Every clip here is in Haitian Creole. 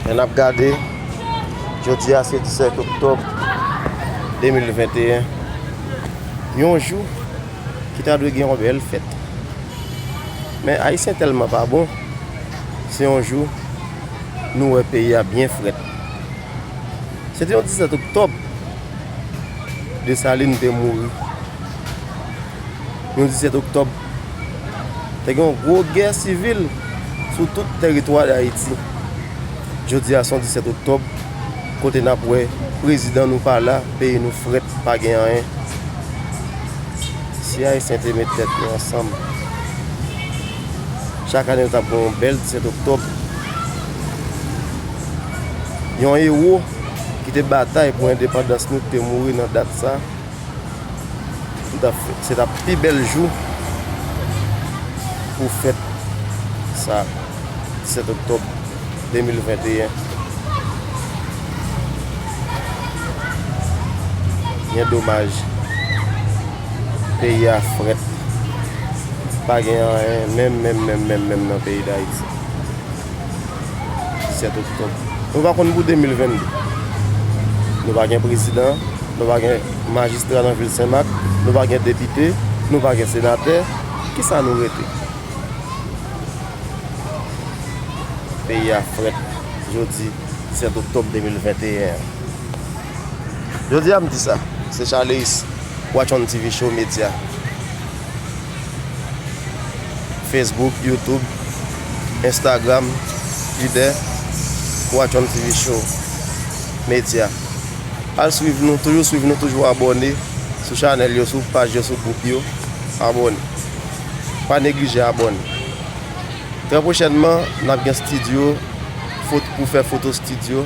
Lè n ap gade, jodi a se 17 oktòb 2021, yon jou ki ta dwe gen yon bèl fèt. Men Ayisyen tèlman pa bon, se yon jou nou wè peyi a byen frèt. Se te yon 17 oktòb Desalin te mouri, yon 17 oktòb. Te gen yon gwo gè sivil sou tout teritwa Dayiti. Jodi a se yon 17 oktòb kote n ap wè prezidan nou pa la, peyi nou frèt, pa gen anyen. Si Ayisyen te met tèt yo ansanm, chak ane nou t ap gen yon bèl 17 oktòb. Yon ewo ki te batay pou endepandans nou ki te mouri nan dat sa a. Se tap pi bèl jou pou fèt sa 17 oktòb 2021. Byen domaj peyi a frèt. Pa gen anyen menm menm menm menm menm nan peyi Dayiti. 17 oktòb. Nou pa konn pou 2022. Nou pa gen prezidan, nou pa gen majistra nan vil Senmak, nou pa gen depite, nou pa gen senatè, ki sa nou rete? Peyi a frèt jodi 17 oktòb 2021 an. Jodi a m di sa, se Charleus, Watchon TV Show Media. Facebook, YouTube, Instagram, Twitter, Watchon TV Show Media. Al swiv nou, toujou swiv nou, toujou abone sou chanel yo, sou paj yo, sou gwoup yo. Abone. Pa neglije abone. Trè pwochènman, n ap gen studio pou fè foto studio.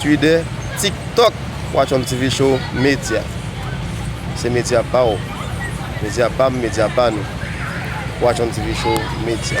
Twitter, TikTok, Watch on TV Show, Medya Se medya pa w Medya pa m Medya pa nou Watch on TV Show, Medya.